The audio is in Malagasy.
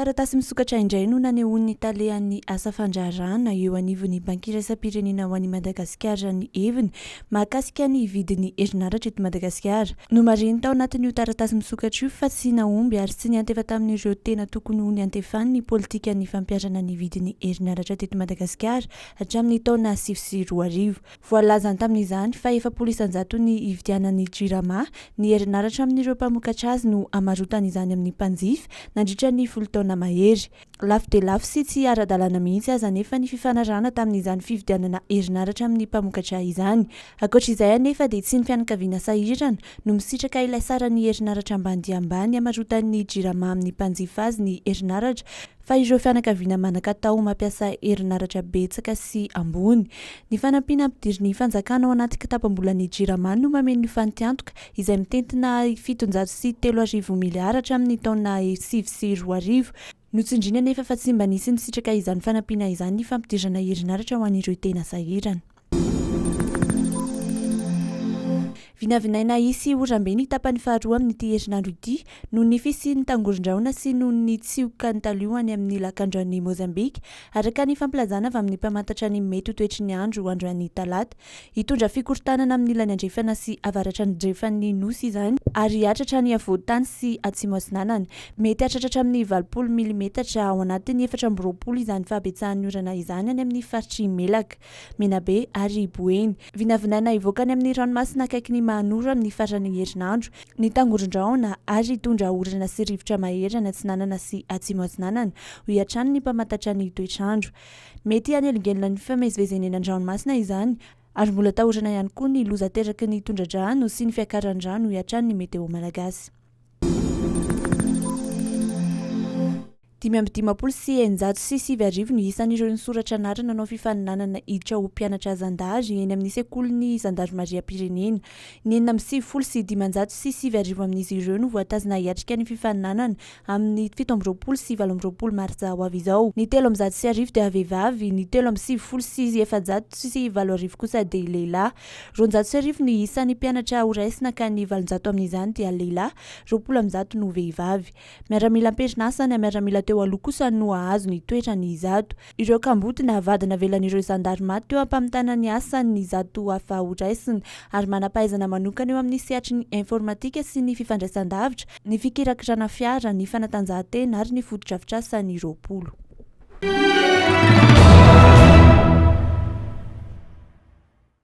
Taratasy misokatra indray no nanehoan'ny talehan'ny asa fandraharahana eo anivon'ny Banky Iraisam-pirenena ho an'i Madagasikara ny heviny mahakasika ny vidin'ny herinaratra eto Madagasikara. Nomarihiny tao anatin'io taratasy misokatra io fa tsy nahomby ary tsy niantefa tamin'ireo tena tokony ho niantefany ny politikan'ny fampiharana ny vidin'ny herinaratra teto Madagasikara hatramin'ny taona sivy sy roa arivo. Voalazany tamin'izany fa efapolo isan-jato ny hividianan'ny Jirama ny herinaratra amin'ireo mpamokatra azy no hamarotany izany amin'ny mpanjifa nandritra ny folo taona mahery. Lafo dia lafo sy tsy ara-dalàna mihitsy aza anefa ny fifanarahana tamin'izany fividianana herinaratra amin'ny mpamokatra izany. Ankoatra izay anefa dia tsy ny fianakaviana sahirana no misitraka ilay saran'ny herinaratra ambany dia ambany hamarotan'ny Jirama amin'ny mpanjifa azy ny herinaratra fa ireo fianakaviana manan-katao mampiasa herinaratra betsaka sy ambony. Ny fanampiana ampidirin'ny fanjakana ao anaty kitapam-bolan'ny Jirama no mameno ny fantiantoka izay mitentina fitonjato sy telo arivo miliara hatramin'ny taona sivy sy roa arivo. Notsindriany anefa fa tsy mba nisy nisitraka izany fanampiana izany ny fampidirana herinaratra ho an'ireo tena sahirana. Vinavinaina hisy oram-be ny tapany faharoa amin'ity herinandro ity noho ny fisian'ny tangoron-drahona sy noho ny tsioka nitalio any amin'ny lakandranon'i Mozambika, araka ny fampilazana avy amin'ny mpamantatra ny mety ho toetry ny andro androany talata. Hitondra fikorontanana amin'ny ilany andrefana sy avaratrandrefan'ny Nosy izany ary hiatratra ny afovoan-tany sy atsimo atsinanana. Mety hahatratra hatramin'ny valopolo milimetatra ao anatin'ny efatra amby roapolo izany fahabetsahan'ny orana izany any amin'ny faritr'i Melaka. Menabe ary Boeny. Vinavinaina hivoaka any amin'ny ranomasina akaikin'i Mahanoro amin'ny faran'ny herinandro ny tangoron-drahona ary hitondra orana sy rivotra mahery any Atsinanana sy Atsimo Atsinanana, hoy hatrany ny mpamantatra ny toetr'andro. Mety hanelingelina ny fifamezivezenena an-dranomasina izany ary mbola atahorana ihany koa ny loza ateraky ny tondradrano sy ny fiakaran'ny rano, hoy hatrany ny Meteo Malagasy. Dimy amby dimampolo sy eninjato sy sivy arivo ny isan'ireo nisoratra anarana nanao fifaninanana hiditra ho mpianatra zandary eny amin'ny sekolin'ny zandarimariam-pirenena. Ny enina amby sivifolo sy dimanjato sy sivy arivo amin'izy ireo no voatazona hiatrika ny fifaninanana amin'ny fito amby roapolo sy valo amby roapolo martsa ho avy izao. Ny telo amby zato sy arivo dia vehivavy, ny telo amby sivifolo sy efajato sy valo arivo kosa dia lehilahy. Roanjato sy arivo ny isan'ny mpianatra horaisina ka ny valonjato amin'izany dia lehilahy, roapolo amby zato no vehivavy. Miaramila am-perinasa na miaramila teo aloha kosa no hahazo ny toetrany izato. Ireo kamboty na vady navelan'ireo zandary maty teo am-pamitana ny asany ny izato hafa horaisina ary manam-pahaizana manokana eo amin'ny sehatry ny informatika sy ny fifandraisan-davitra, ny fikirakirana fiara, ny fanatanjahantena ary ny fotodrafitrasa ny roapolo.